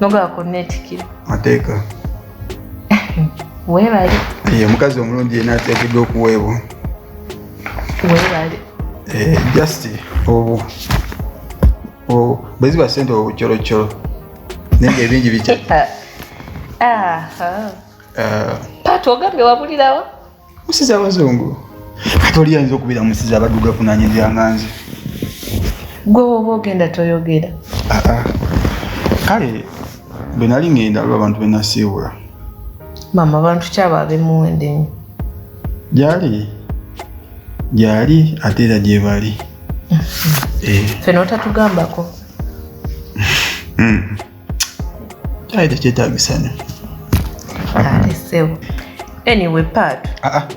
nogaba kunneetikira mateeka weebale ye omukazi omulungi yena ateekeddwa okuweebwa weebale eh, just obu bwe ziba sente obucoloccolo naye nga ebingi bikya ah, ah. ah. paati ogambye wabulirawo musiza abazungu kati oli yayinza okubeera musiza abaduga kunanya ebyanga nze gwe woba ogenda toyogera ah, ah. kale bwe nali ngenda aliwo abantu benasiibula maama abantu kyaba abemuwende nyo gyali gyali ate era gyebali mm-hmm. eh. ffe notatugambako mm-hmm. kyali tekyetagisa nyo anyway part ah, ah.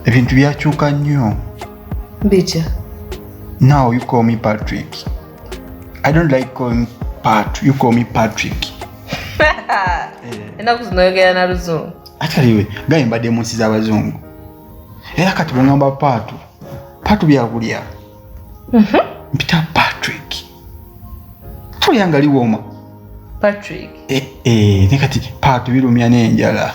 ebintu byakyuka nnyo bitya now you call me patrick i don't like calling pat you call me patrick enaku zino oyogera na luzungu ataliwe gaye mbadde mu nsi z'abazungu era kati bwengamba paatu paatu byakulya mhm. mpita patrick tolyanga liwooma patrick eh, eh, ne kati paatu birumya n'enjala